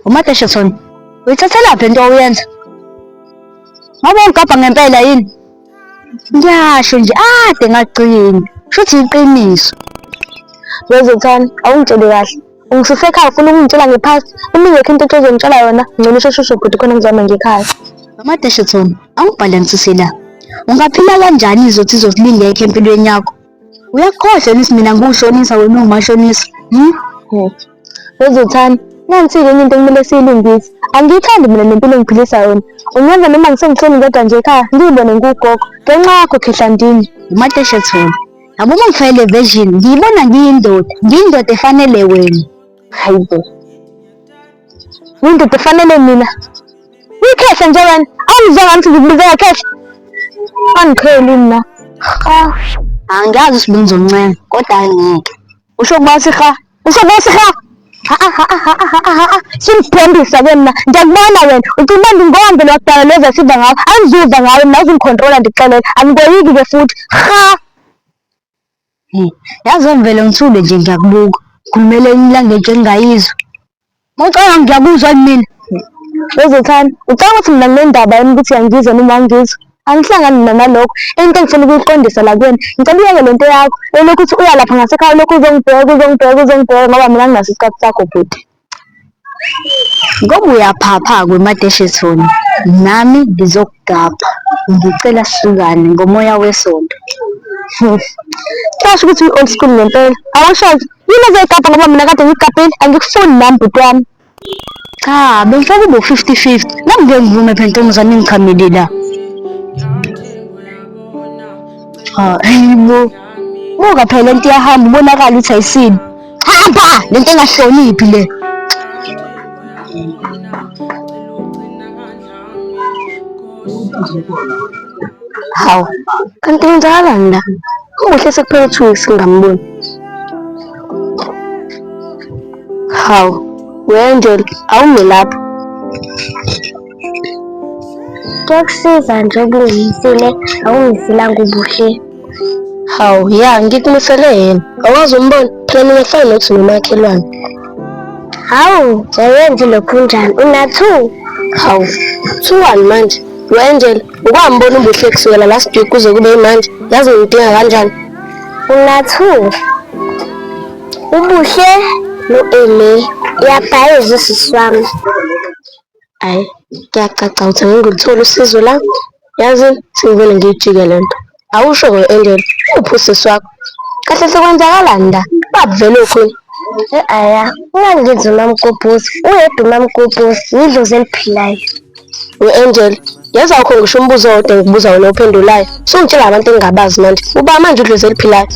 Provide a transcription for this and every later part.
uMadesheson uyithathelaphi into oyenza ngoba ungigabha ngempela yini ngiyasho nje ade ngagcini shuthi iqiniso wezothani awungitsheli kahle ungisusa ekhaya ufuna ukungitshela ngephasi uma ingekho into ethe uzongitshela yona ngcono usheshushe bhuti khona ngizama ngekhaya amadesheton angibhalansisela ungaphila kanjani izothi izosilingekho empilweni yakho uyakhohlwa nisi mina ngiwushonisa wena ungumashonisa hmm? Ngithi, wezothani nansike enye into kumele siyilungise angiyithandi mina nempilo engiphilisa yona ungenza noma ngisengihleli ngedwa nje ekhaya ngiyibone ngiwugogo ngenxa yakho khehlandini umateshe thona yabo uma ngifayele version ngiyibona ngiyindoda ngiyindoda efanele wena Hayibo. Yindoda efanele mina. Uyikhehla nje wena. Awungizwa ngathi ngikubiza ngakhehla. Angiqheli mina. Ha. Angiyazi usibenza omncane kodwa angeke. Usho kuba siha. Usho kuba siha. Ha ha ha ha ha ha. Singibhembisa ke mina. Ngiyakubona wena. Ucela uba ngingombe lokudala lezi esiva ngawo. Angizuva ngawe mina uzingicontrola ndikuxelela. Angikoyiki ke futhi. Ha. Yazi ngivele ngithule nje ngiyakubuka. Khulumela elinye ilanguage engingayizwa. Mawucabanga ngiyakuzwa yini mina? Wezethani, ucabanga ukuthi mina nginendaba yini ukuthi uyangizwa noma awungizwa? Angihlangani mina nalokho. Into engifuna ukuyiqondisa la kuyena, ngicela uyeke le nto yakho, elokhu uthi uya lapha ngasekhaya ulokhu uzongibheka, uzongibheka, uzongibheka ngoba mina anginaso isikhathi sakho bhuti. Ngoba uyaphapha kweMadeshethoni nami ngizokugabha ngicela sihlukane ngomoya wesonto. Kuyasho ukuthi uyi-old school ngempela. Awusho-ke yini ozoyigabha ngoba mina kade ngigabhile angikufuni nami bhuti wami. Cha bengifuna kube u-fifty fifty, nami ngeke ngivume phela ntombazane engichamile la. Hhayi bo, buka phela lento iyahamba ubonakale ukuthi ayisile. hamba le nto engahloniphi le hawu kanti ngizakalani la umuhle sekuphele two weeks ngingamboni hawu wendel awume lapho Kuyakusiza nje ukungimisile awungisilanga ubuhle. Hawu ya ngikumisele yena. Awazi umbona phela mina kufana nokuthi nomakhelwane. Hawu jayenzi lokhu njani unathu? Hawu kuthiwani manje? Wenjel ukwambona ubuhle kusukela last week kuze kube imanje yazi ngimdinga kanjani? Unathu ubuhle no-Eme uyabhayiza usisi wami. Hhayi kuyacaca ukuthi ngeke ngilithole usizo la, yazi sengivele ngiyijike le nto. Awusho-ke Angel, uphi usisi wakho? Kahle hle kwenzakalani la? Baba vele ukhona? E-aya, ungangenzi umamgobhozi, uyedwa umamgobhozi, yidlozi eliphilayo. Ngu-Angel, yazi awukho ngisho umbuzo owodwa engikubuza wona ophendulayo. Sungitshela abantu engingabazi manje. Uba manje udlozi eliphilayo.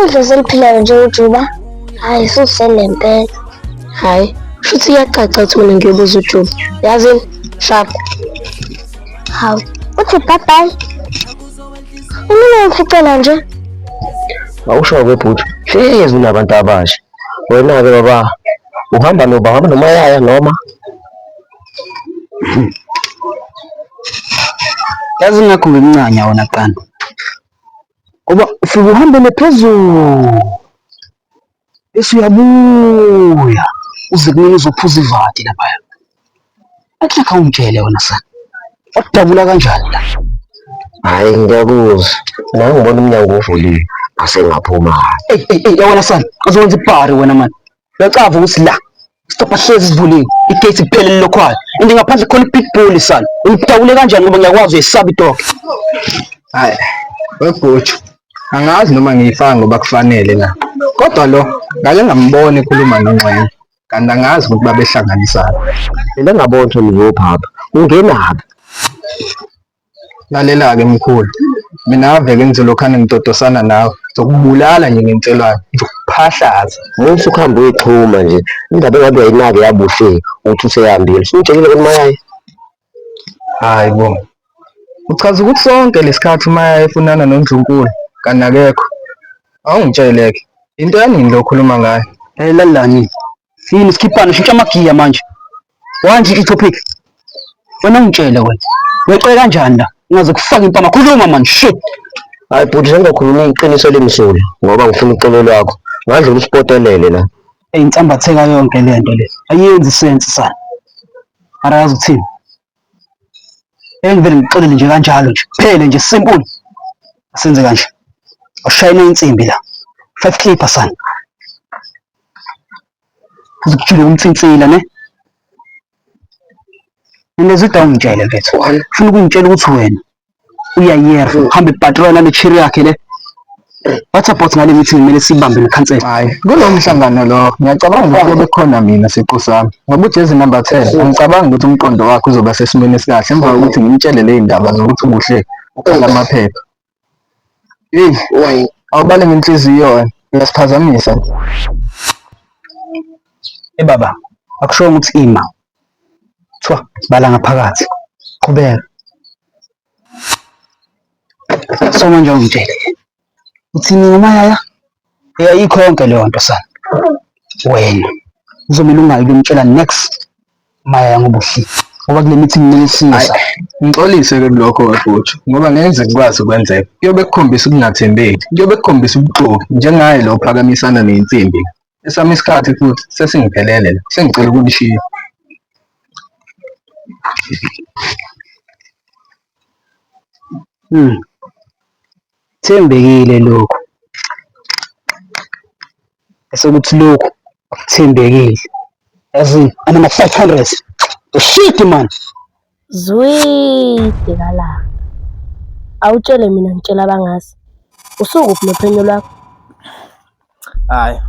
Udlozi eliphilayo nje uJuba. Hayi susele mpela. Hayi, shuthi iyacaca ukuthi mina ngiyobuza uJuba. Yazini? Sharp. Hawu, uthi bye bye. Umile ngificela nje. Awusho ke bhuti, hlezi unabantu abasha. Wena-ke baba, uhamba noba, uhamba nomayaya noma? Yazi ngakho ngimncanya wona qanda. ngoba ufike uhambele phezulu bese uyabuya uze kumina uzophuza ivati laphaya athi akhawungitshele wena sana wadabula kanjani la hhayi ngiyakuzwa nawe ngibona umnyango uvuliwe asengaphuma eyi eyi eyi wena sana uzowenza ibhari wena mani Uyacava ukuthi la stopha hlezi sivuliwe igate kuphelele lokhwayo and ngaphandle khona ibig bull sana ungidawule kanjani ngoba ngiyakwazi uyesaba idoke hayi webhutshu angazi noma ngiyifaka ngoba kufanele na kodwa lo ngake ngambona ekhuluma nonxenye kanti angazi ukuthi babehlanganisana mina ngabona ukuthi ngiyopha apha ungenaphi Lalela-ke mkhulu, mina ave-ke ngiselokhane ngidodosana nawe, ngizokubulala nje ngenselwane, ngizokuphahlaza. Uma usukuhambe uyixhuma nje indaba engabe uyayinaki yabuhle ukuthi useyambile. Usumtshelile ukuthi mayaye? Hayi bo. Uchaza ukuthi sonke lesikhathi uma efunana noNdlunkulu kanti akekho. Awungitshele-ke into yanini lo okhuluma ngayo? Hey lalelani, Yini sikhiphane shintsha amagiya manje. Wanji itopic. Wena ungitshele wena. Wexe kanjani la? Ngaze kufaka impama khuluma manje shit. Hayi bhuti sengakhuluma iqiniso elimsulwa ngoba ngifuna uxolo lwakho. Ngadla umspotelele la. Eyinsambatheka yonke lento le. Ayenzi sense sana. Arazi uthini? engivele ngixolele nje kanjalo nje phele nje simple senze kanje ushayina insimbi la five clipper sana uzokujula umtsintsila ne Nilezida ungitshele mfethu. Ufuna ukungitshela ukuthi wena uyayiyeka uhamba ibhatrola nale cherry yakhe le what about ngale meeting kumele sibambe nekhansela hayi kulo mhlangano lo ngiyacabanga ukuthi kube khona mina siqu sami ngoba ujezi number 10 angicabangi ukuthi umqondo wakhe uzoba sesimweni esikahle emva kokuthi ngimtshele le ndaba zokuthi kuhle ukhala amaphepha hey why awubale ngenhliziyo wena uyasiphazamisa ebaba eh, akusho ukuthi ima Kuthiwa bala ngaphakathi. Qhubeka. So manje ungitshele. Uthini ngomayaya? Uyayikho yonke leyo nto sana. Wena uzomele ungayi kumtshela next mayaya ngobuhle. Ngoba kule mithi nginelisisa. Ngixolise ke kulokho webhuthi ngoba ngeke ngikwazi ukwenzeka. Kuyobe kukhombisa ukungathembeki. Kuyobe kukhombisa ubuxoki njengaye lo phakamisana nensimbi. esami isikhathi futhi sesingiphelele la sengicela ukunishiya hmm. thembekile lokhu esokuthi lokhu akuthembekile yazi anama-five hundred shit man Zwii bhekalanga. Awutshele mina ngitshela abangazi. Usukuphi nophenyo lwakho? Hhayi,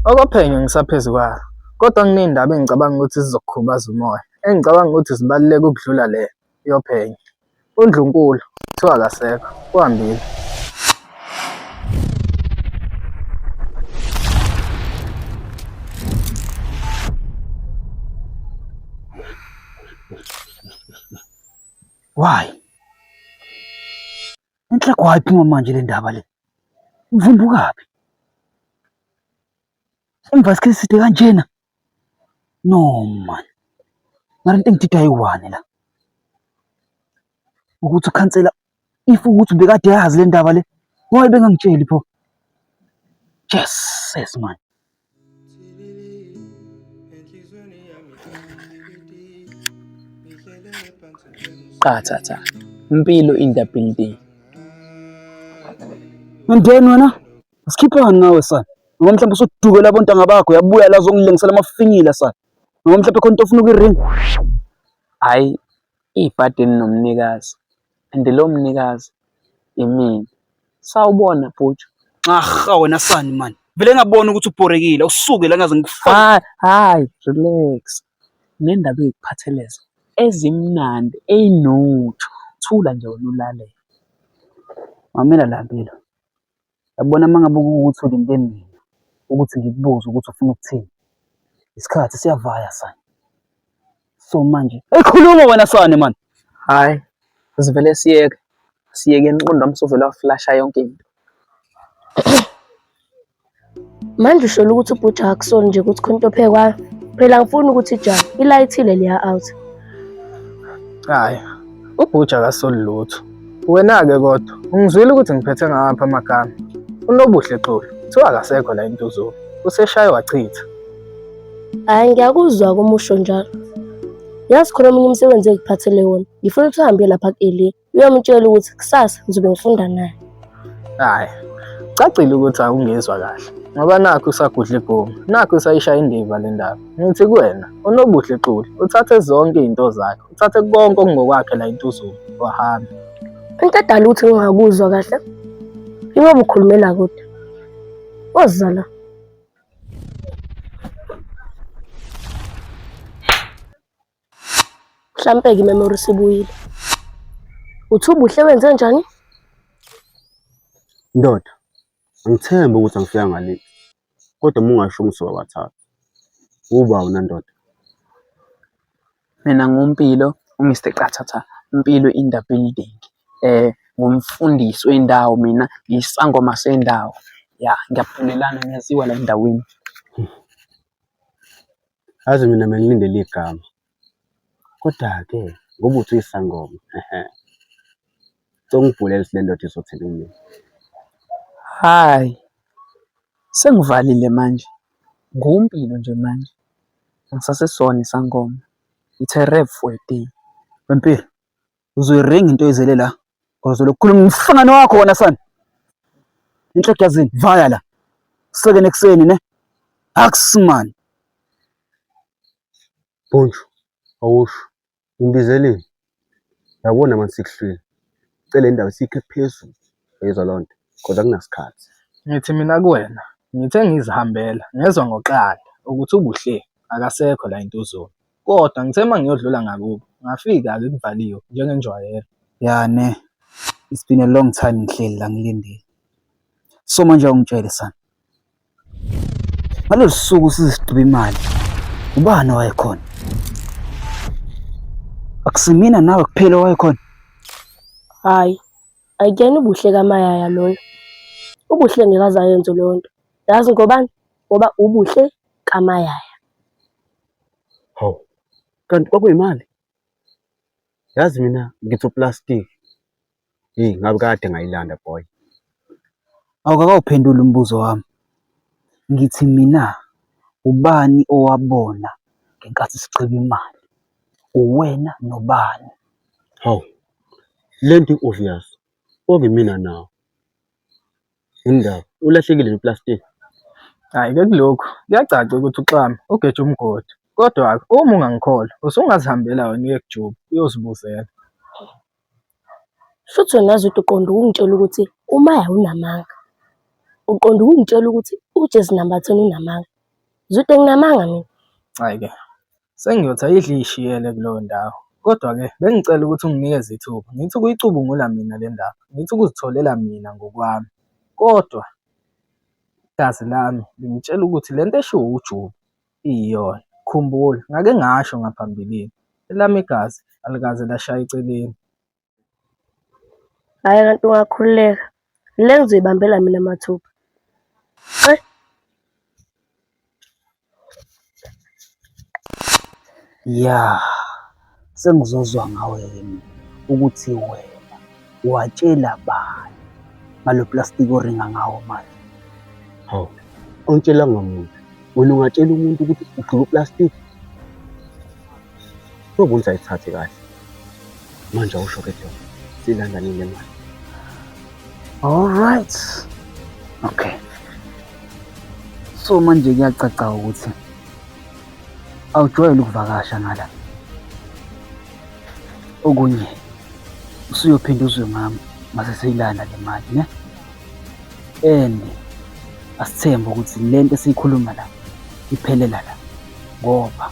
okophenyo ngisaphezu kwalo. Kodwa kuney'ndaba engicabanga ukuthi zizokukhubaza umoya, engicabanga ukuthi zibaluleke ukudlula le yophenyo. UNdlunkulu kuthiwa akasekho, uhambile. Why? Inhle kwayiphi manje le ndaba le? Uvumbukaphi? Emva sikhathi side kanjena. No man. Mara into engidida ayiwani la. Ukuthi ukhansela if ukuthi bekade yazi le ndaba le why bengangitsheli pho jesus man qathatha impilo in the building and then wena sikhiphani nawe sana noma mhlawumbe usudukela abontanga bakho yabuya la zongilengisela amafinyila sana noma mhlawumbe khona into ofuna ukuyiringa hayi ibhadi elinomnikazi and lowo mnikazi imina. Sawubona bhuti. Nxarha wena sani mani. Vele ngabona ukuthi ubhorekile usuke la ngaze ngikufake. Hayi relax. Nendaba ezikuphatheleza ezimnandi eyinotho. Thula nje wena ulalele. Mamela la Mpilo. Yabona uma ngabe kuwukuthi ulinde mina ukuthi ngikubuze ukuthi ufuna ukuthini, isikhathi siyavaya sana. So manje, eyi khuluma wena sane mani. Hhayi, sivele siyeke, siyeke umqondo wami suvele waflasha yonke into. Manje usholo ukuthi ubhuti akusona nje ukuthi khona into ophekwayo. Phela angifuni ukuthi ijahwe, ilayithile leya out. Hhayi, ubhuja akasoli lutho. Wena-ke kodwa ungizwile ukuthi ngiphethe ngawaphi amagama? UNobuhle Xulu kuthiwa akasekho la eNtuzuma, useshaye wachitha. Hhayi ngiyakuzwa uma usho njalo. Yazi khona omunye umsebenzi engikuphathele wona, ngifuna ukuthi uhambe uye lapha ku-Elia. uyomtshela ukuthi kusasa ngizobe ngifunda naye hayi cacile ukuthi awungezwa kahle ngoba nakho usagudla igoma nakho usayishaya indiva le ndaba ngithi kuwena unobuhle xuli uthathe zonke izinto zakhe uthathe konke okungokwakhe la intuzulu wahambe into edala ukuthi ngingakuzwa kahle iwe bukhulumela kude woza la Mhlampe-ke imemory sibuyile. Uthi ubuhle wenze njani? Ndoda, angithembe ukuthi angifika ngale. Kodwa uma ungasho umsuka wathatha. Uba wena ndoda. Mina nguMpilo, uMr Qathatha, Mpilo in the building. Ngumfundisi wendawo mina, ngisangoma sendawo. Ya, ngiyabulalana ngiyaziwa la endaweni. Yazi mina bengilindele igama kodwa-ke ngoba uthi uyisangoma ehe songibhulela ukuthi le ndoda izothini kumina Hhayi, sengivalile manje. NguMpilo nje manje. Angisasesona isangoma. It's a wrap for a day. Wempilo, uzoyiringa into ezele la uzolo kukhuluma umhlangano wakho wona sana inhleke yazini vaya la kuseke nekuseni ne akusman Poncho awusho imbizeleni yabona manje sikuhlwile cela indaba sikhe phezulu uyezwa loo nto kodwa kunasikhathi ngithi mina kuwena ngithe ngizihambela ngezwa ngoqanda ukuthi ubuhle akasekho la entuzulu Kodwa ngithe uma ngiyodlula ngakubo, ngafika-ke kuvaliwe njengenjwayelo. Ya ne, it's been a long time ngihleli la ngilindile. So manje awungitshele sana. Ngalolu suku siziqiba imali, ubani owayekhona? Akusimina nawe kuphela owayekhona? Hhayi, akuyena uBuhle kaMayaya loyo. UBuhle ngeke aze ayenze leyo nto. Yazi ngobani? Ngoba uBuhle kaMayaya. Hawu, kanti kwakuyimali? Yazi mina ngithi uplastic. Yeyi ngabe kade ngayilanda boy. Awukakawuphenduli umbuzo wami. Ngithi mina ubani owabona ngenkathi sigqiba imali? Uwena nobani? Hawu, lento i-obvious. Okuyimina nawe. Yindaba. Ulahlekile lo plastic. Hhayi-ke kulokhu kuyacaca ukuthi uxame ugeje umgodi. Kodwa-ke uma ungangikholwa usungazihambela wena uye kuJobe uyozibuzela. Shuthi wena Zwide uqonde ukungitshela ukuthi uMaya unamanga. Uqonde ukungitshela ukuthi uJesu number ten unamanga. Zwide nginamanga mina. Hhayi-ke. Sengiyothi ayidle iy'shiyele kuleyo ndawo. Kodwa-ke bengicela ukuthi unginikeze ithuba, ngithi ukuyicubungula mina le ndaba, ngithi ukuzitholela mina ngokwami. Kodwa igazi lami lingitshela ukuthi le nto eshiwo uJuba iyiyona. Khumbula ngake ngasho ngaphambilini, elami igazi alikaze lashaya eceleni. Hhayi kanti ungakhululeka. Le ngizoyibambela mina mathupha. Hhayi. Ya, sengizozwa ngawe yini ukuthi wena watshela bani ngalo plastiki oringa ngawo manje? Hawu, awutshelanga muntu. Wena ungatshela umuntu ukuthi ugqoke uplastiki? Kube ukuthi ayithathe kahle. Manje awusho ke Joe. Silanda nini le mali? All right. Okay. So manje kuyacaca ukuthi awujwayele ukuvakasha ngala. Okunye usuyophinda uzwe ngami mase seyilanda le mali ne? And asithembe ukuthi lento esiyikhuluma la iphelela la ngoba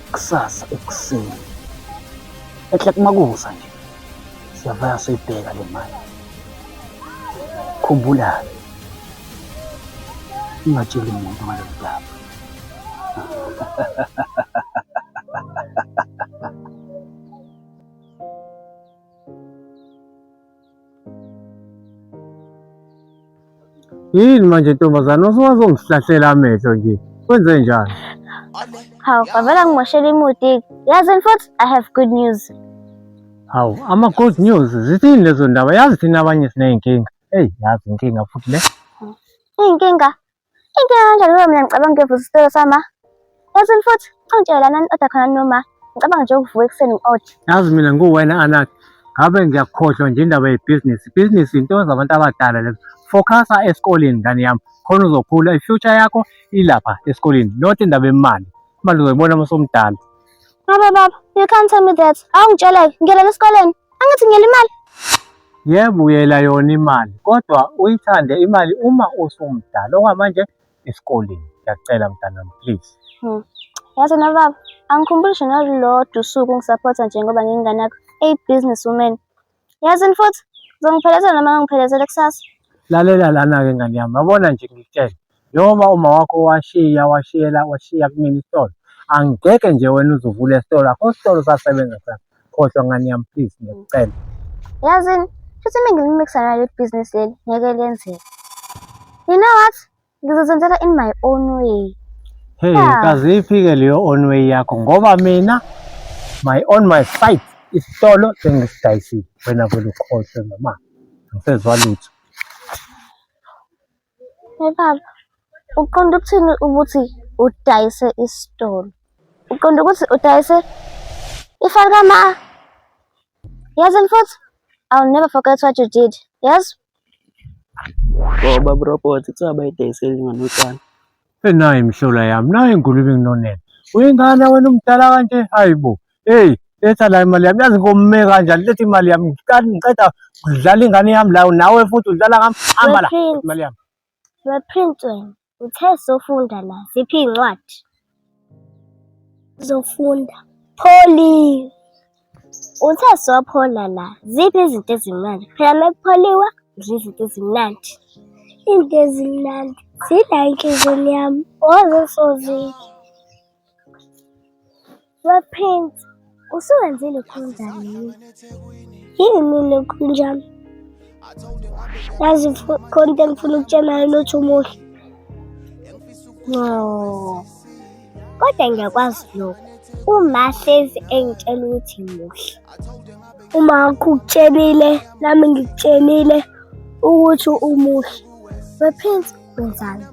kusasa ekuseni ehle kumakusa nje siyavaya soyibheka le mali khumbula ungatsheli muntu ngalo mdaba Yini manje ntombazane usungazongihlahlela amehlo nje. Kwenze njani? Hawu, kwavela ngimoshela imuti. Yazini futhi I have good news. Hawu, ama good news zithini lezo ndaba? Yazi thina abanye siney'nkinga. Eyi, yazi inkinga futhi le. Iy'nkinga Into kanjani noma mina ngicabanga ukuyovusa isitolo sama. Yazi futhi ungitshela lana ni-oda khona noma ngicabanga nje ukuvuka ekuseni ngi-oda. Yazi mina nguwena Anak, ngabe ngiyakhohlwa nje indaba yebhizinisi. Ibhizinisi into zabantu abadala lezo. Focusa esikoleni ngane yami, khona uzokhula. I-future yakho ilapha esikoleni, not indaba yemali. Imali uzoyibona uma usumdala. Baba baba, you can't tell me that. Awungitsheleke, ngiyelela esikoleni. Angithi ngiyela imali. Yebo uyela yona imali kodwa uyithande imali uma usumdala okwamanje esikoleni. Ngiyacela mntanami please. Hmm. Yazi na baba, angikhumbuli nje nalolodwa usuku ungisaphotha nje ngoba ngingane yakho. Eyi business woman. Yazini futhi uzongiphelezela noma ngangiphelezele kusasa. Lalela lana-ke ngane yami, yabona nje ngikutshele njengoba uma wakho washiya washiyela washiya kumina isitolo angigeke nje wena uzovula esitolo akho sitolo sasebenza sana khohlwa ngane yami please ngiyacela Yazini futhi mina ngilimixana leli business leli ngeke lenzeke. You know what? ngizozenzela in my own way hey yeah. kaziphi-ke leyo own way yakho ngoba mina my on my site isitolo sengisidayisile wena vele ukhohlwe mama angisezwa lutho hey baba uqonda ukuthini ukuthi udayise isitolo uqonda ukuthi udayise ifali kama yazi mfowethu i'll never forget what you did yazi Ngoba bro bot kuthiwa bayidayisela ingane utshani. Enayi mhlola yami, nayi ingulube nginonela. Uyingane wena umdala kanje, hayi bo. Hey, letha la imali yami. Yazi ngome kanjani, letha imali yami. Ngiqala ngiqeda kudlala ingane yami la, nawe futhi udlala ngami. Hamba la, imali yami. Wephrintsweni. Uthe sofunda la ziphi iy'ncwadi? Zofunda. Pholiwe. Uthe sophola la ziphi izinto ezimnandi? Phela uma kupholiwa udla izinto ezimnandi. Into ezimnandi zidla enhliziyweni yami waze sozidla. WePrince, usuwenze lokhu njani yini? Yini lokhu njani? Yazi fu- khona into engifuna ukutshena yona uthi umuhle. No. Kodwa ngiyakwazi lokhu. Uma hlezi engitshela ukuthi muhle. Uma ngikutshelile nami ngikutshelile ukuthi umuhle. WePrince, wenzani?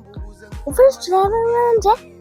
Ufuna ukujula kanje?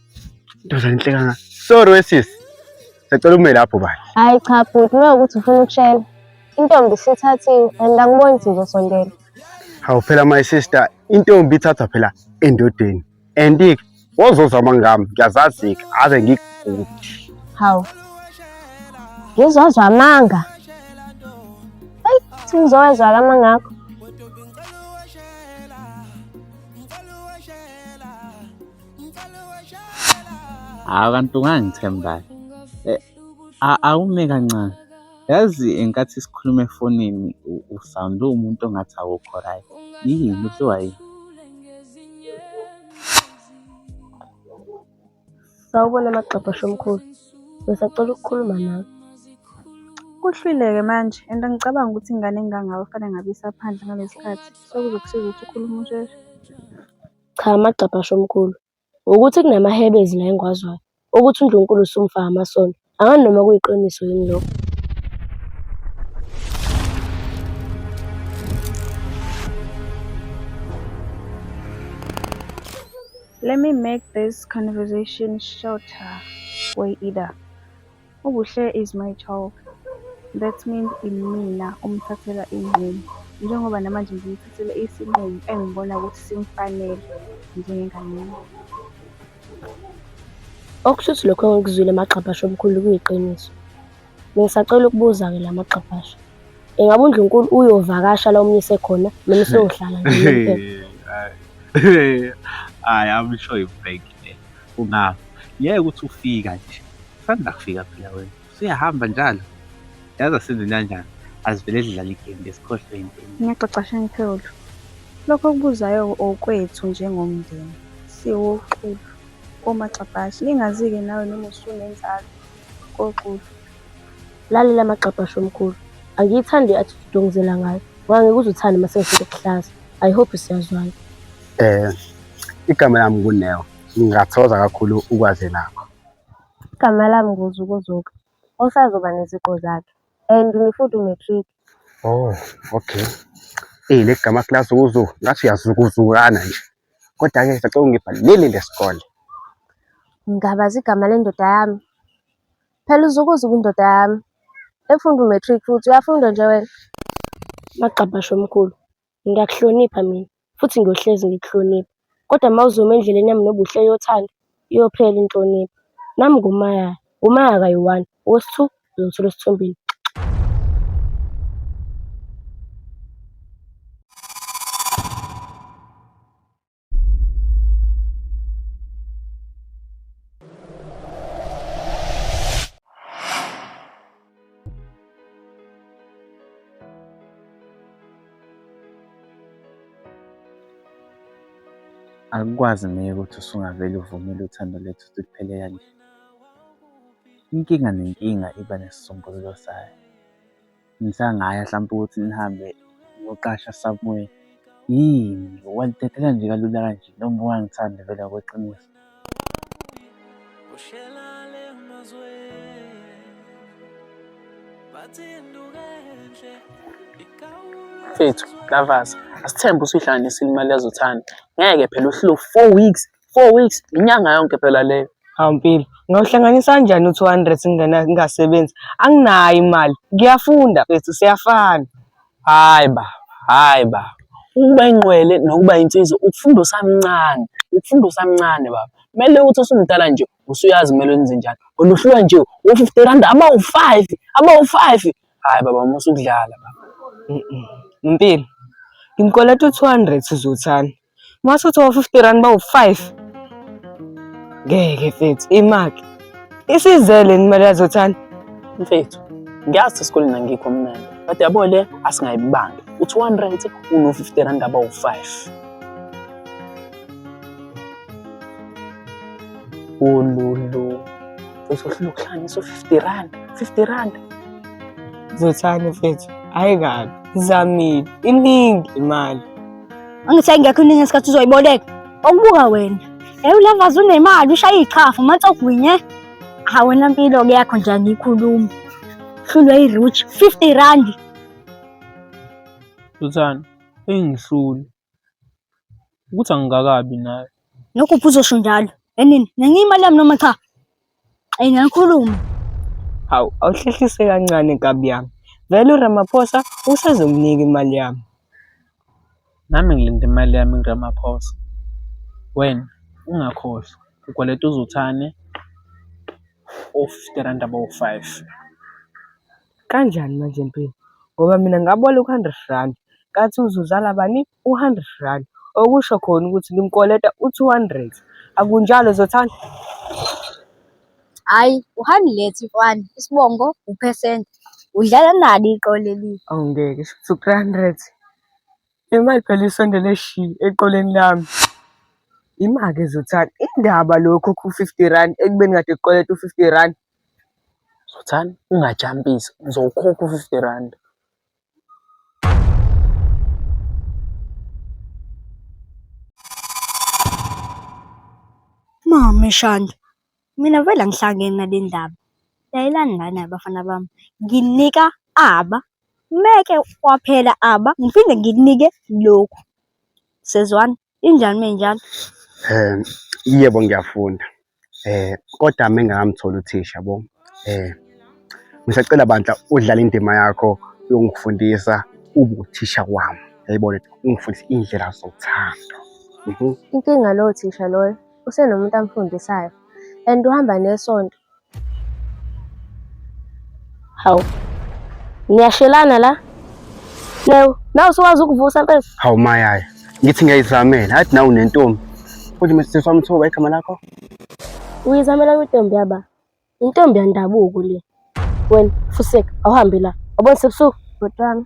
Ndoda enhle kangaka. Sorry wesisi. Sacela ume lapho bani. Hayi cha bhuti uma ukuthi ufuna ukushela. Intombi sithathiwe and angiboni ukuthi uzosondela. Hawu phela my sister, intombi ithathwa phela endodeni. And ke wozozama ngami, ngiyazazi ke ave ngigudi. Hawu. Ngizozwa amanga. Hey, ngizowezwa amanga akho. hawu kanti ungangithembayo eh, awume kancane yazi ngenkathi sikhuluma efonini usawunde uwumuntu ongathi awukho right yini kuthiwa yini sawubona magxabha shomkhulu ngisacela ukukhuluma nawe kuhlwileke manje and angicabangi ukuthi ingane engangawe fanele ngabe isaphandle ngalesi sikhathi so kuzokusiza ukuthi ukhulume usheshe Cha amagcabha asho mkhulu. Wukuthi kunamahebezi la engiwaziwayo okuthi uNdlunkulu usumfa amasondo. Angani noma kuyiqiniso yini lokho. Let me make this conversation shorter, Way Ida. UBuhle is my child that means imina omthathela iy'nqumo njengoba namanje ngimthathele isinqumo engibona ukuthi simfanele njengengane yami. Okusho ukuthi lokho engikuzwile magxabhasha omkhulu kuyiqiniso. Ngisacela ukubuza-ke la magxabhasha. Ingabe uNdlunkulu uyovakasha la umyise khona noma useyohlala nje unomphela? Hhayi, I'm sure you fake. Ungafa. Ngeke uthi ufika nje. Usanda kufika phela wena. Usuyahamba njalo. Yazi asenze kanjani. Azivele zidlala igame ngesikhohlwe impini. Ngiyaxoxa Shankhulu. Lokho okubuzayo okwethu njengomndeni. Siwoxulu. Omagxabhashi. Ngingazi-ke nawe noma usunenzalo. Koxulu. Lalela amagxabha shomkhulu. Angiyithandi i attitude ongizela ngayo. Ngoba ngeke uze uthande mase ngifike kuhlaza. I hope siyazwana. Eh igama lami nguNeo. Ngingathokoza kakhulu ukwazi lakho. Igama lami nguZukuzuka. Osazoba neziqo zakhe. And ngifuthi umatric. Oh, okay. Eyi le gama class uzu ngathi uyazukuzukana nje. Kodwa ke sacela ungibhalele lesikole. Ngabazi igama lendoda yami. Phela uzukuza ubundoda yami. Efunda u-matric futhi uyafunda nje wena. Magqabhashe omkhulu, ngiyakuhlonipha mina futhi ngiyohlezi ngikuhlonipha. Kodwa uma uzoma endleleni yami nobuhle yothando, iyophela inhlonipho. Nami nguMaya, nguMaya kayi-one, owesi-two uzothola esithombeni. Akukwazi ngeke ukuthi usungavele uvumele uthando lethu ukuthi luphele kanje. Inkinga nenkinga iba nesisombululo sayo. Ngisangaya hlampe ukuthi ngihambe ngiyoqasha somewhere. Yini, walithathela nje kalula kanje noma ubungangithandi vele ngokweqiniso? Mfethu, Lavas, asithembe usuyihlanganisile imali yazothanda. Ngeke phela uhleli four weeks four weeks inyanga yonke phela leyo awumpilo ngawuhlanganisa kanjani u-two hundred ngingasebenzi anginayo imali ngiyafunda bethu siyafana hayi baba hayi baba ukuba inqwele nokuba insizwa ukufunda usamncane ukufunda usamncane baba kumele ukuthi usumdala nje usuyazi kumele wenze njani oluhluka nje u-fifty rand abawu-five abawu-five hayi baba uma usukudlala baba mpilo ngimkoleta u-two hundred sizothani Mase uthi wo-50 rand bawu-5. Ngeke mfethu, imaki. Isizele imali yazothanda. Mfethu, ngiyazi esikoleni angikho mnandi. But yabo le asingayibangi. Uthi one rand uno-50 rand abawu-5. Ululu. Mfethu uhlula ukuhlangisa u-50 rand. 50 rand. Zothanda mfethu. Hayi kabi. Zamile. Iningi imali. angithi ayingekho iningi ngesikhathi uzoyiboleka okubuka wena ewulavaza unemali ushaya iqhafu manje ogwinye ha wena mpilo ke yakho nje angiyikhulumi hlulwe i-roach 50 rand Susan engihluli ukuthi angikakabi naye nokuphi uzosho njalo enini nenye imali yami noma cha Ayi ngiyakhuluma. Hawu, awuhlehlise kancane nkabi yami. Vele uRamaphosa usazonginika imali yami. Nami ngilinde imali yami kuRamaphosa. Wena ungakhohlwa ukweleta uZothane o-fifty rand abawu-five. Kanjani manje Mpilo? Ngoba mina ngaboleka u-hundred randi, ngathi uzozala bani? U-hundred randi. Okusho khona ukuthi ngimkweleta u-two hundred. Akunjalo Zothanda? Hhayi, u-hundred kwani? Isibongo uphesenti. Udlala nalo iqolo elibi. Awu ngeke, shuthi u-three hundred. Imali phela isondele shi eqoleni lami. Ima-ke Zothanda, indaba lo okhokha u-fifty randi ekubeni kade ekukweleta u-fifty randi? Zothani ungajampisi ngizowukhokha u-fifty randi. Mame Shanda, mina vele angihlangene nale ndaba. Layelani lana bafana bami, nginika aba, meke kwaphela aba ngiphinde nginike lokhu. Sezwani? Injani menjalo? Eh yebo ngiyafunda. Eh kodwa mengakamtholi uthisha bo. Eh ngisacela bandla udlala indima yakho yokungifundisa ubuthisha kwami. Yayibona ungifundisa indlela zothando. Mhm. Inkinga lowo thisha loyo usenomuntu amfundisayo and uhamba nesonto Hawu. Ngiyashelana la. Leyo, nawe usuwazi ukuvusa mfethu. Hawu mayaya. Ngithi ngiyayizamela. Athi nawe unentombi. Futhi mse samthoba igama lakho. Uyizamela kwintombi yaba. Intombi yandabuko le. Wena fuseka awuhambe la. Wabona sebusuku bhotwana.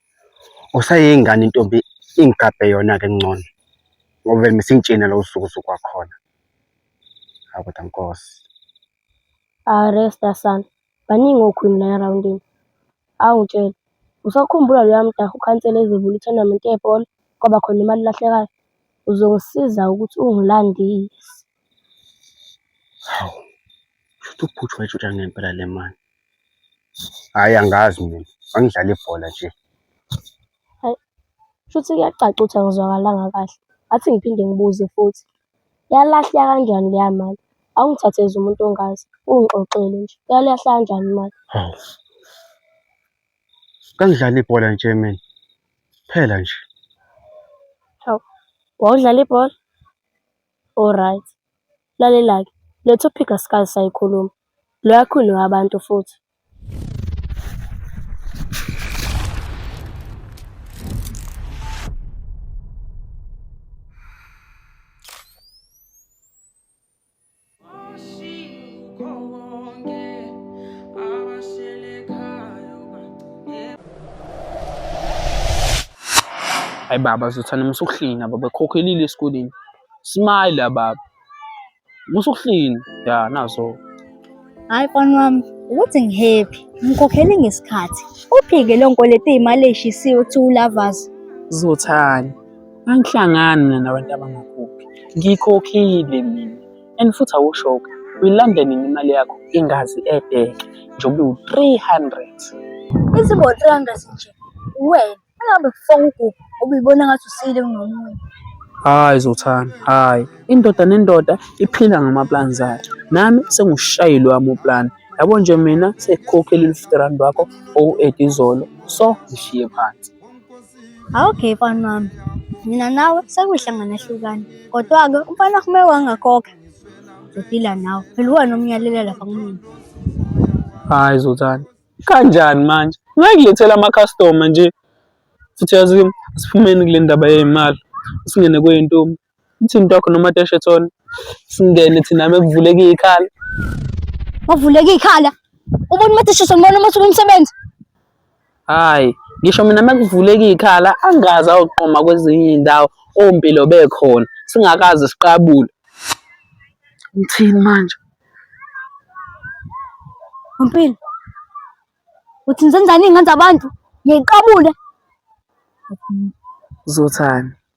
usayeyingane intombi ingigabhe yona-ke ngcono ngoba vele mesingitshena lo usuku usuku wakhona hawu kodwa nkosi Hayi resta sana. Baningi okhwini la erawundini. Hawu ngitshele. Usakhumbula loya mdaha ukhansela ezovula i-tournament yebhola kwaba khona imali elahlekayo? Uzongisiza ukuthi ungilandise. Hawu, shuthi uphuthu wayitshontsha ngempela le mali. Hhayi angazi mina, angidlala ibhola nje. Shuthi kuyacaca ukuthi angizwakalanga kahle. Ngathi ngiphinde ngibuze futhi. Yalahleka kanjani leya mali? Awungithathezi umuntu ongazi, ungixoxele nje. Yalahleka kanjani imali? Hawu. Kangidlala ibhola nje mina. Phela nje. Wawudlala ibhola? Alright. Lalela-ke, le topic asikaze sayikhuluma. Loya Queen wabantu futhi. Ay baba zothana musa ukuhlina baba khokhelile esikoleni. Smile baba. Musa ukuhlina. Ya nazo. Hayi mfana wami ukuthi ngihappy ngikhokhele ngesikhathi. Uphike lo nkweleta imali eshisiwe ukuthi ulavas. Zothani. Angihlangani mina nabantu abangakhokhi. Ngikhokhile mina. And futhi awushoke. Uyilanda nini imali yakho ingazi edeke njengoba iwu-300. Izibo 300 nje. Wena angabe kufonga uGugu ubuyibona ngathi usile kunomunye. Hayi Zothana, hayi. Indoda nendoda iphila ngamaplani zayo. Nami sengushayile wami uplani. Yabo nje mina sekukhokhela i-50 rand wakho owu-8 izolo. So ngishiye phansi. Awuke mfana wami, mina nawe sekuyihlangana hlukana. Kodwa-ke umfana kume wangakhokha. Ngizodila nawe. Phela uwena omnyalela lapha kumina. Hayi Zothane, kanjani manje? Ngayilethela amakhastoma nje. Futhi yazi asiphumeni kule ndaba yey'mali, singene kwey'ntombi. Ngithini dog noma teshe thona. Singene thina mekuvuleka ikhala. Wavuleka ikhala. Ubona uma tishiswa ngibona uma usuka umsebenzi. Hayi, ngisho mina mekuvuleka ikhala angazi ayoqoma kwezinye indawo ompilo bekhona singakaze siqabule. Ngithini manje? Mpilo. Uthi ngizenzani ingane zabantu? Ngiyiqabule. Uzothani?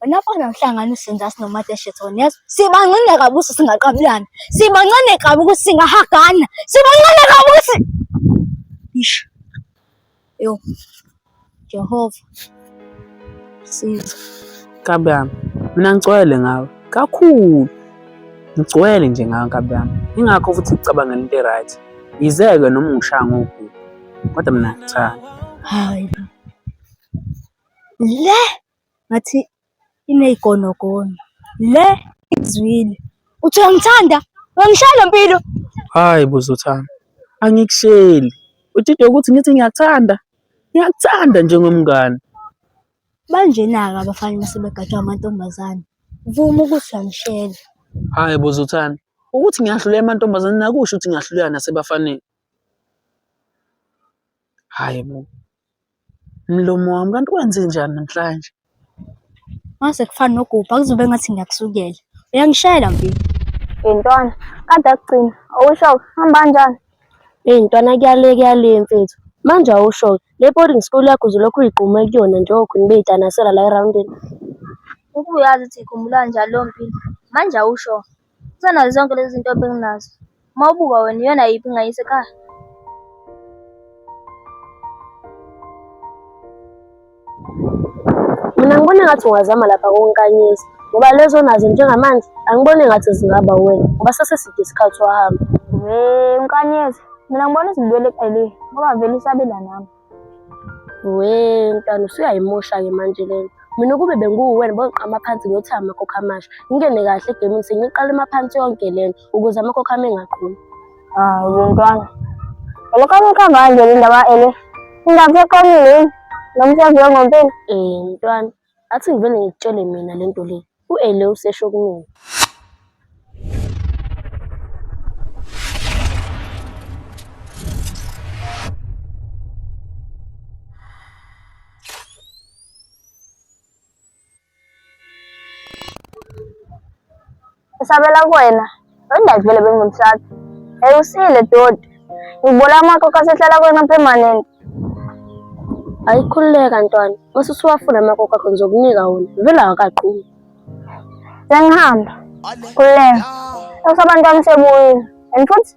Wena fana uhlangana usinza sinomateshethoni yazi sibancane kabi ukuthi singaqabulana sibancane kabi ukuthi singahagana sibancane kabi ukuthi ish yo Jehova siza kabi yami mina ngicwele ngawe kakhulu ngigcwele nje ngawe nkabi yami ingakho futhi ngicabangela into e-right yizeke noma ungishaya ngokugula kodwa mina ngithanda hayi le ngathi iney'gonogono. Le ikuzwile, uthi uyangithanda, uyangishaya ngempilo. Hhayi bo Zothando, angikusheli. Udidwe ukuthi ngithi ngiyakuthanda, ngiyakuthanda njengomngani. Banjena-ke abafana uma sebegatshwa amantombazane. Vuma ukuthi uyangishela. Hhayi bo Zothando, ukuthi ngiyahluleka emantombazaneni akusho ukuthi ngiyahluleka nasebafaneni. Hhayi bo. Mlomo wami kanti wenze njani namhlanje? Mase kufana nogubha kuzobe ngathi ngiyakusukela. Uyangishayela mfini. Yintwana, kade akugcina. Awusho hamba kanjani? Hey ntwana kuyale kuyale mfethu. Manje awusho le boarding school yakho uzolokhu uyigquma kuyona njengoku nibeyitanasela la eroundini. Ukuyazi ukuthi ikhumbula njalo mpilo. Manje awusho Kusenazo zonke lezi zinto benginazo. Uma ubuka wena iyona yiphi engayisa ekhaya? Mina ngibona ngathi ungazama lapha konkanyisa ngoba lezo nazo njengamanje angiboni ngathi zingaba wena ngoba saseside isikhathi wahamba. Hey, unkanyezi. Mina ngibona izibuyele eceleni ngoba vele isabela nami. we mntwana usuyayimosha-ke manje lena mina ukube benguwuwena bongiqama phansi ngiyothi amakhokho amasha ngingene kahle egemini sengiqala emaphansi yonke lena ukuze amakhokho ami engaqhumi hayi ah, mntwana lokho amukho manje le ndaba ele ingaseqomile nomsebenzi wengompela um mntwana Athi ngivele ngikutshele mina le nto le, u-Ele usesho kumina. Ngisabela kuwena, wendazi vele bengimsatha. Hey usile doti. Ngibona amakhokho asehlala kuwena permanent. Ayikhululeka ntwana, mase usuwafuna amakhokho akho ngizokunika wona. Vele awakaqumi. Sengihamba. Khululeka. Usabantu wami sebuyile. And futhi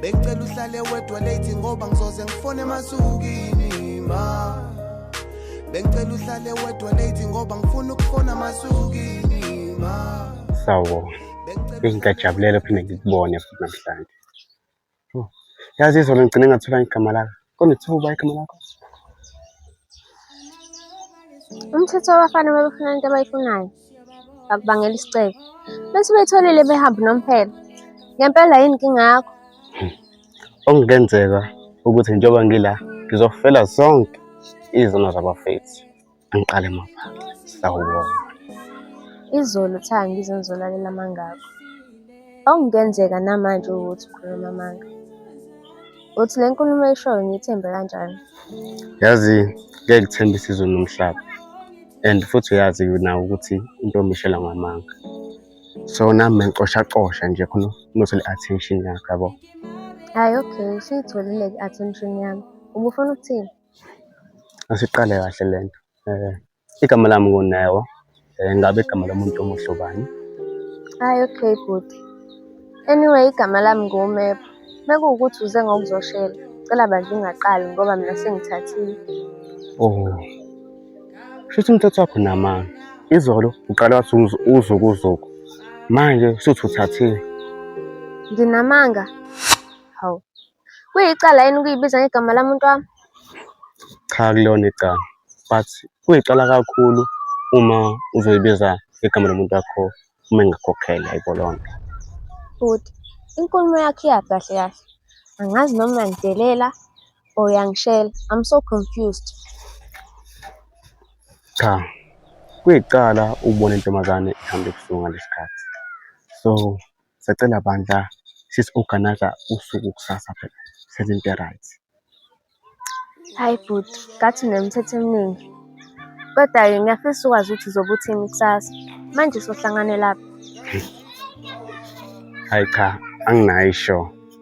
Bengicela uhlale wedwa late ngoba ngizoze ngifone masukini ma Bengicela uhlale wedwa late ngoba ngifuna ukufona masukini ma Sawo Ngiyajabulele phinde ngikubone futhi namhlanje Yazi izolo ngigcine ngathola igama lakho Kwani tu bike mwanako. Umthetho wabafana babefuna into abayifunayo. Bakubangela isicelo. Bese betholile behamba nomphela. Ngempela yini inkinga yakho? Okungenzeka ukuthi njengoba ngila ngizofela zonke izono zabafethu. Angiqale mapha. Sawubona. Izolo cha ngizonzolalela amangakho. Okungenzeka namanje ukuthi ukhuluma amanga. Uthi le nkulumo oyishoyo ngiyithembe kanjani? Yazi ngeke kuthembisa izulu nomhlaba. And futhi uyazi nawe ukuthi intombi ishela ngamanga. So nami bengicoshacosha nje khona unothole attention yakho yabo. Hayi okay, usuyitholile-ke i-attention yami. Ubufuna ukuthini? Asiqale kahle le nto. Eh, igama lami nguNeo. Eh, ngabe igama lomuntu omusha ubani? Hayi okay bhuti. Anyway igama lami nguMep. Mekuwukuthi uze ngokuzoshela, cela bandla ungaqali ngoba mina sengithathile. Oh. Shuthi umthetho wakho namanga. Izolo uqale wathi uzu- uzukuzuku. Manje usuthi uthathile. Nginamanga? Hawu, Kuyicala yini ukuyibiza ngegama lami mntu wami? Cha kulona igama but kuyicala kakhulu uma uzoyibiza igama lomuntu wakho uma engakhokheli ayibo lonto. Bhuti, inkulumo yakho iyaphi kahle kahle? Angazi noma uyangidelela or uyangishela. I'm so confused. Cha kuyicala ukubona intombazane ihamba ebusuku ngalesi sikhathi so Sacela bandla sisi-organize usuku kusasa phela senze into e-right. Hayi bhuti, ngathi unemithetho eminingi. Kodwa-ke ngiyafisa ukwazi ukuthi uzobe uthini kusasa. Manje sohlangane lapha. Hayi cha, anginayo ishow.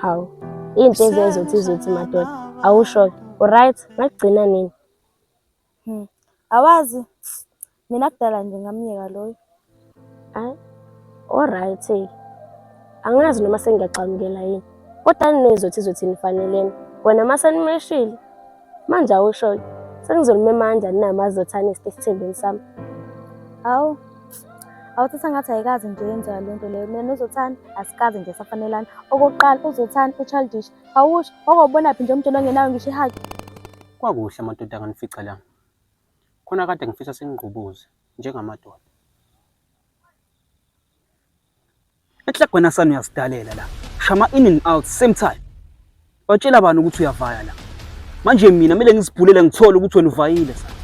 Hawu. Into ezezothi izothi madoda. Awusho ke. Uright, ngakugcina nini? Hmm. Awazi mina kudala nje ngamyeka loyo. Hayi. Alright. Angazi noma sengiyaxamukela yini. Kodwa ninezothi izothi nifanelene. Wena masenimeshile Manje awushoyo. Sengizolumema kanjani na mazi zothana esithembeni sami. Hawu. Awuthatha ngathi ayikazi nje yenziwa le nto leyo. Mina nozothana asikaze nje safanelana. Okokuqala uzothana uchildish. Awusho okobona phi nje umjolo ngenayo ngisho ihaki. Kwakuhle amadoda anganifica la. Khona kade ngifisa sengigqubuze njengamadoda. Ehlek wena sana uyasidalela la. Shama in and out same time. Watshela bani ukuthi uyavaya la. Manje mina kumele ngizibhulele ngithole ukuthi wena uvayile sana.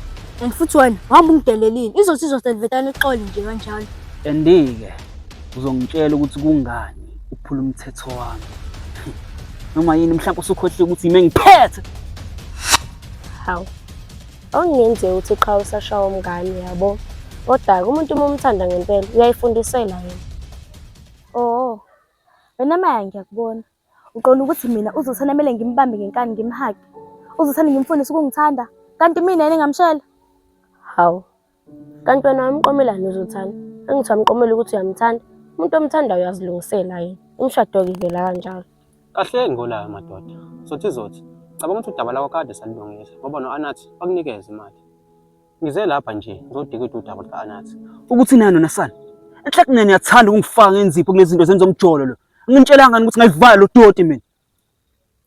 And futhi wena wahamba ungidelelile. Izothi izoselvetana ixole nje kanjalo. Andike uzongitshela ukuthi kungani uphula umthetho wami. Noma yini mhlawumbe usukhohlile ukuthi yime ngiphethe. Hawu. Okungenzeka ukuthi qha usashawa umngane yabo. Kodwa ke umuntu uma umthanda ngempela uyayifundisela yena. Oh. Wena Maya ngiyakubona. Uqonda ukuthi mina uzothanda kumele ngimbambe ngenkani ngimhage. Uzothanda ngimfundise ukungithanda kanti mina yena engamshela. Hawu. Kanti wena wamqomelani uzothanda? Angithi wamqomela ukuthi uyamthanda? Umuntu omthandayo uyazilungisela yena. Umshado-ke ivela kanjalo. Kahleni ngolayo madoda. Zothi zothi. Cabanga ukuthi udaba lakho kade salilungisa ngoba no-Anathi wakunikeza imali. Ngize lapha nje ngizodikida udaba luka-Anathi. Ukuthi nani wena sana? Enhlekweni niyathanda ukungifaka ngenzipho kulezinto zenza umjolo lo. Nginitshelanga ukuthi ngayivala lo doti mina.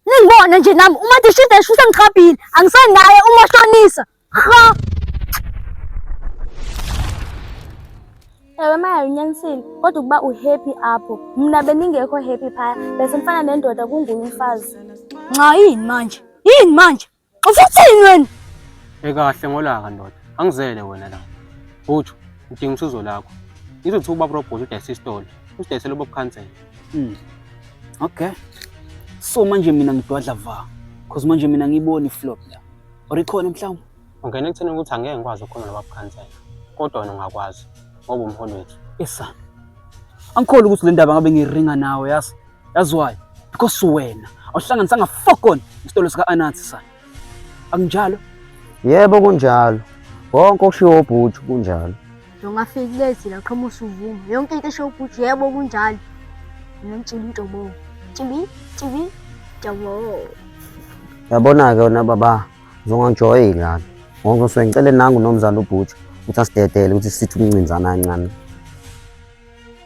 Ningibona nje nami uma dishida esho usengigqabhile angisenaye uma shonisa. Ha. Ewe maya unyanisile kodwa ukuba uhappy apho mna beningekho happy phaya bese mfana nendoda kunguye umfazi. Nxa yini manje? Yini manje? Ufuthini wena? Ekahle ngolaka ndoda. Angizele wena la. Bhutshu, ngidinga usizo lakho. Ngizothi ubaba robhothi udayisa isitolo. Usidayisela ubaba khansela. Mm. Okay. So manje mina ngidwadla va. Cause manje mina ngiboni flop la. Or ikhona mhlawumbe? Ungena ekutheni ukuthi angeke ngikwazi ukukhuluma nobaba khansela. Kodwa wena ungakwazi ngoba umholi wethu. Esa. Angikholi ukuthi le ndaba ngabe ngiringa nawe yazi. That's why because wena awuhlanganisanga fokon isitolo sika Anansi sana. Akunjalo? Yebo kunjalo. Konke okushiwo ubhuti kunjalo. Ungafiki kulezi la qhoma usuvuma. Yonke into esho ubhuti yebo kunjalo. Ngimtshila into bo. Tibi tibi jabo. Yabona ke wena baba uzongangijoyi la. Ngoba ngicela nangu nomzali ubhuti ukuthi asidedele ukuthi sithi umncinzana kancane.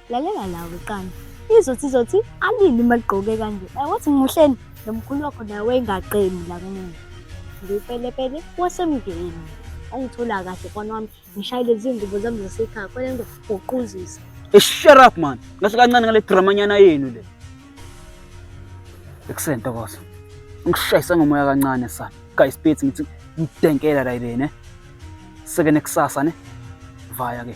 lalela la weqana izothi izothi alini uma ligqoke kanje Eh, wathi ngimuhleni nomkhulu wakho nawe engaqemi la kumina ngiwupelepele wasemndenini ongithola kahle kwana wami ngishayile izingubo zami zasekhaya kwale nto uquzisa Eh, shut up man ngahle kancane ngale dramanyana yenu le ekuseni ntokozo ngishayisa ngomoya kancane sana guys bethi ngithi ngidenkela la ile ne seke nekusasa ne vaya ke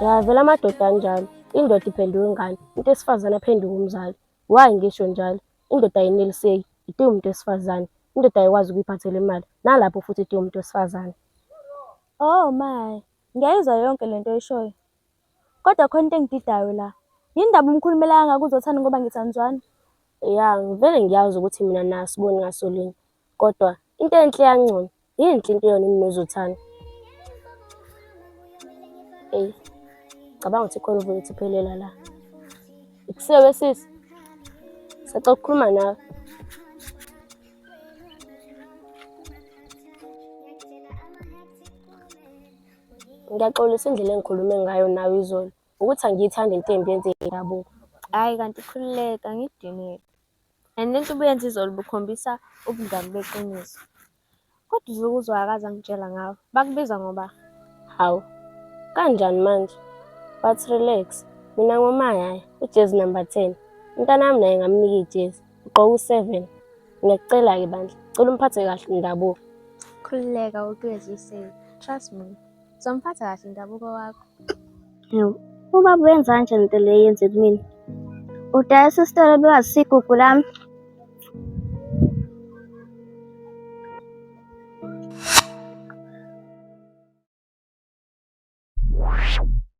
yavela amadoda anjalo indoda iphenduka ingane umuntu wesifazane aphenduka umzali wayi ngisho njalo indoda ayineliseki itiye umuntu wesifazane indoda ayikwazi ukuyiphathela imali nalapho futhi itiye umuntu wesifazane oh my ngiyayizwa yonke le nto oyishoyo kodwa khona into engididayo la yini ndaba umkhulumela kangaka uzothanda ngoba ngithandzwana Ya, ngivele ngiyazi ukuthi mina naye asiboni ngaso linye. Kodwa into enhle yangcono, yinhle into yona iminozothane. Eyi, cabanga ukuthi khona uvele uthi phelela la. Ikusewe sisi, sacela ukukhuluma nawe. Ngiyaxolisa indlela engikhulume ngayo nawe izolo. ukuthi angiyithandi into embi yenzeke indabuko hhayi kanti khululeka ngidiniwe and lento ubuyenza izolo bukhombisa ubungani beqiniso kodwa uzuke uzwakazi angitshela ngawo bakubiza ngoba hawu kanjani manje but relax mina ngomayaya ujezi number ten umntana wami naye ngamnika ijezi ugqoke u-seven ngiyakucela-ke bandla cela umphathe kahle indabuko khululeka ukweziseni trust me Uzomphatha kahle indabuko wakho. Yebo. Uma buyenza kanje lento le yenze kumina. Udayisa isitolo bewazi igugu lami.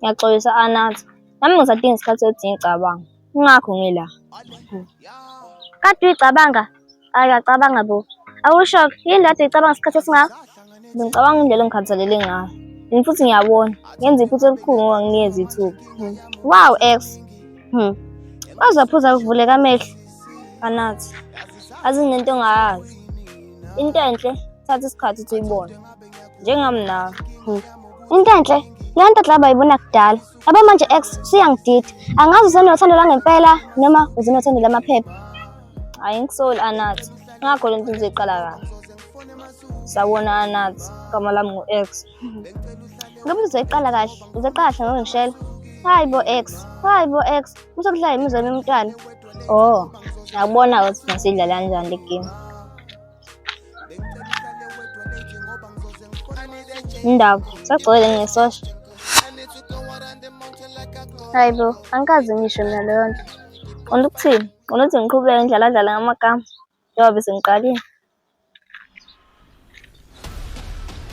Ngiyaxolisa Anathi. Nami ngisadinga isikhathi sokuthi ngicabanga. Ingakho ngila. Kade uyicabanga? Ayi uyacabanga bo. Awusho yini kade uyicabanga isikhathi esingaka? Ngicabanga indlela engikhathalele ngayo. Yini futhi ngiyabona. Ngenza iphutha elikhulu ngoba ngiyeza ithuba. Wow ex. Hmm. Waze waphuza kuvuleka amehlo. Anathi. Azi nento ongayazi. Into enhle thatha isikhathi ukuthi uyibone. njengamna hmm. Intantle leyo nto dlaba yibona kudala yabo manje ex suyangidida angazi usenothando langempela noma uzenothando lamaphepha hayi ngisoli anathi ngakho le nto uzoyiqala kahle sawona anathi igama lami ngu-ex ngabe uzoyiqala kahle uzoqala kahle ngoba ngishela hayi bo ex hayi bo ex usokudlala yimizwa yomntwana oh ngiyakubona ukuthi masidlala kanjani le game Indaba sagcwele ngesosha. Hayi bo, angikaze ngisho mina leyo nto. Ufuna ukuthini? Ufuna ukuthi ngiqhubeke ngidlaladlale ngamagama njengoba bese ngiqalile?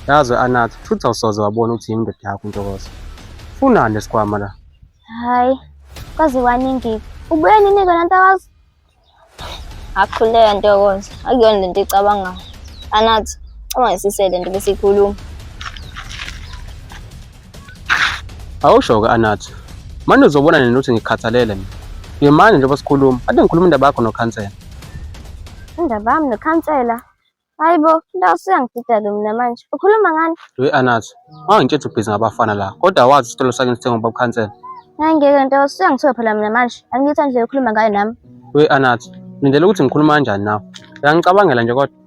Yazi we-Anath, futhi awusoze wabona ukuthi yini indoda yakho uNtokozo. Funani lesikhwama la. Hayi, kwaze kwaningi. Ubuye nini-ke nantakazi? akuhluleka ntokozo akuyona le nto icabangayo anathi ungasise le nto besiyikhuluma awusho-ke anathi mane uzobona nini ukuthi ngikhathalele mina ngimane njengoba sikhuluma ade ngikhuluma indaba yakho nokhansela indaba yami nokhansela Hayi bo, indawo siyangidida-ke mina manje. Ukhuluma ngani? We Anazo, ungangitshela ubhizi ngabafana la. Kodwa wazi isitolo sakini sithengwa ubaba Khansela. Hayi ngeke nto, siyangithiwa phela mina manje. Angiyithandi indlela okhuluma ngayo nami. We Anazo, ngilindele ukuthi ngikhuluma kanjani nawe. Uyangicabangela nje kodwa.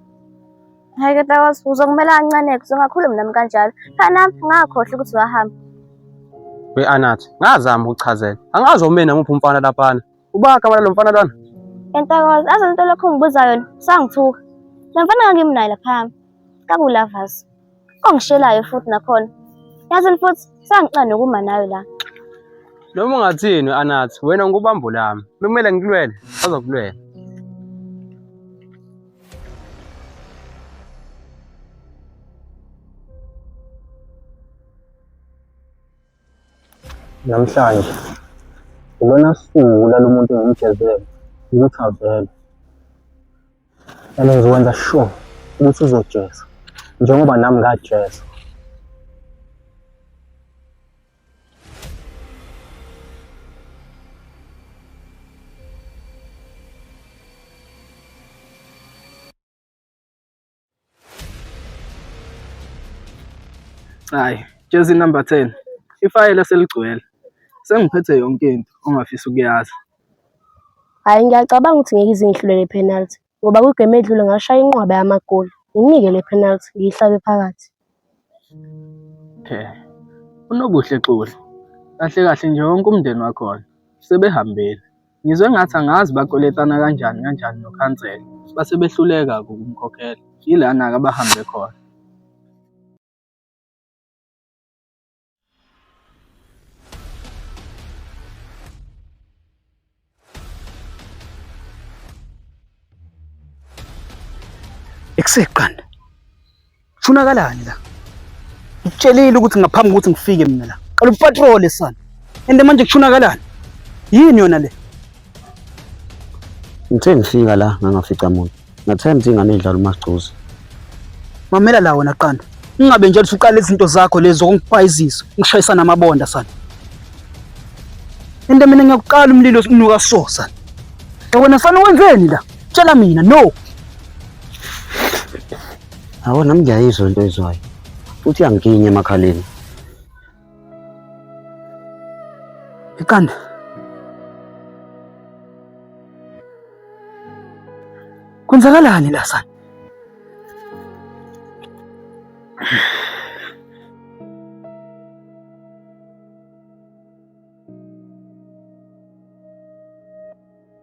Hayi ke Tawas, uzokumela kancane-ke, uzongakhulumi nami kanjalo. Cha nami, ngakhohlwa ukuthi wahamba. We Anazo, ngazama ukuchazela. Angazi omeni namuphi umfana laphana. Uba kamana lo mfana lona. Entokozo, aze into lokho ngibuza yona, sangithuka. Le mfana ngangimnayo laphaya. Kakulavas. Ongishelayo futhi nakhona. Yazi futhi sangicane nokuma nayo la. Noma ungathini anathi wena ngikubambo lami. Bekumele ngikulwele, azokulwela. Namhlanje ilona suku lalo muntu engimgezele ukuthi avele and ngizokwenza sure ukuthi uzojeza njengoba nami ngajeza Hayi, jezi number 10. Ifayela seligcwele. Sengiphethe yonke into ongafisa ukuyazi. Hhayi ngiyacabanga ukuthi ngeke izingihlule le penalty ngoba kwigemu edlule ngashaya inqwaba yamagoli. Nginike le penalty ngiyihlabe phakathi. Okay. UNobuhle Xoli, kahle kahle nje wonke umndeni wakhona sebehambile. Ngizwe ngathi angazi bakweletana kanjani kanjani nokhansela base behluleka ukumkhokhela. Yilana-ke abahambe khona. Ekusegqanda. Funakalani la? Ngitshelile ukuthi ngaphambi kokuthi ngifike mina la. Qala upatrole sana. Ende manje kushunakalani? Yini yona le? Ngithe ngifika la ngangafica muntu. Ngathemba ukuthi ingane idlala uMagcuzi. Mamela la wena qanda. Ungabe nje usuqala izinto zakho lezi zokungipayizisa, ngishayisa namabonda sana. Into mina ngiyakuqala umlilo unuka so sana. Wena fana wenzeni la? Tshela mina no. Awona mngiyayizwa into ezwayo. Futhi yangikinya emakhaleni. Iqanda. Kwenzakalani la sana?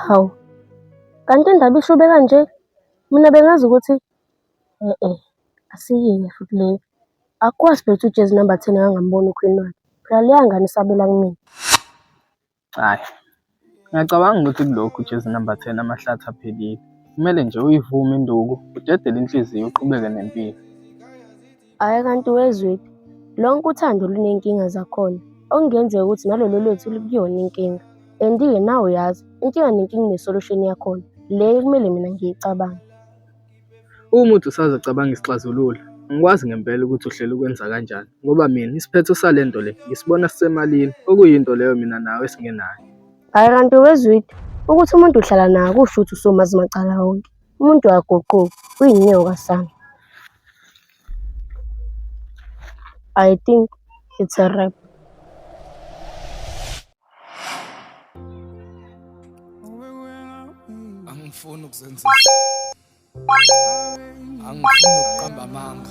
Hawu, kanti indaba ishube kanje? Mina bengazi ukuthi e-e, asiyinye futhi le. Akukwazi phela ukuthi ujezi number ten akangamboni ukhwini wakhe. Phela leya ngane isabela kumina. Hhayi, ngiyacabanga ukuthi kulokhu ujezi number ten amahlathi aphelile. Kumele nje uyivume induku, udedele inhliziyo uqhubeke nempilo. Hhayi kanti wezwephi? Lonke uthando lunenkinga zakhona. Okungenzeka ukuthi nalolo lwethu likuyona inkinga. And-ke nawe uyazi, inkinga nenkinga ine-solution yakhona. Le ekumele mina ngiyicabange. Uma uthi usazocabanga isixazululo, angikwazi ngempela ukuthi uhlela ukwenza kanjani ngoba mina isiphetho sale nto le ngisibona sisemalini, okuyinto leyo mina nawe esingenayo. Hhayi kanti wezwidi ukuthi umuntu uhlala naye kusho ukuthi usomazi macala wonke. Umuntu akaguquki, uyinyoka sana. I think it's a wrap. angifuni ukuzenzisa angifuni ukuqamba amanga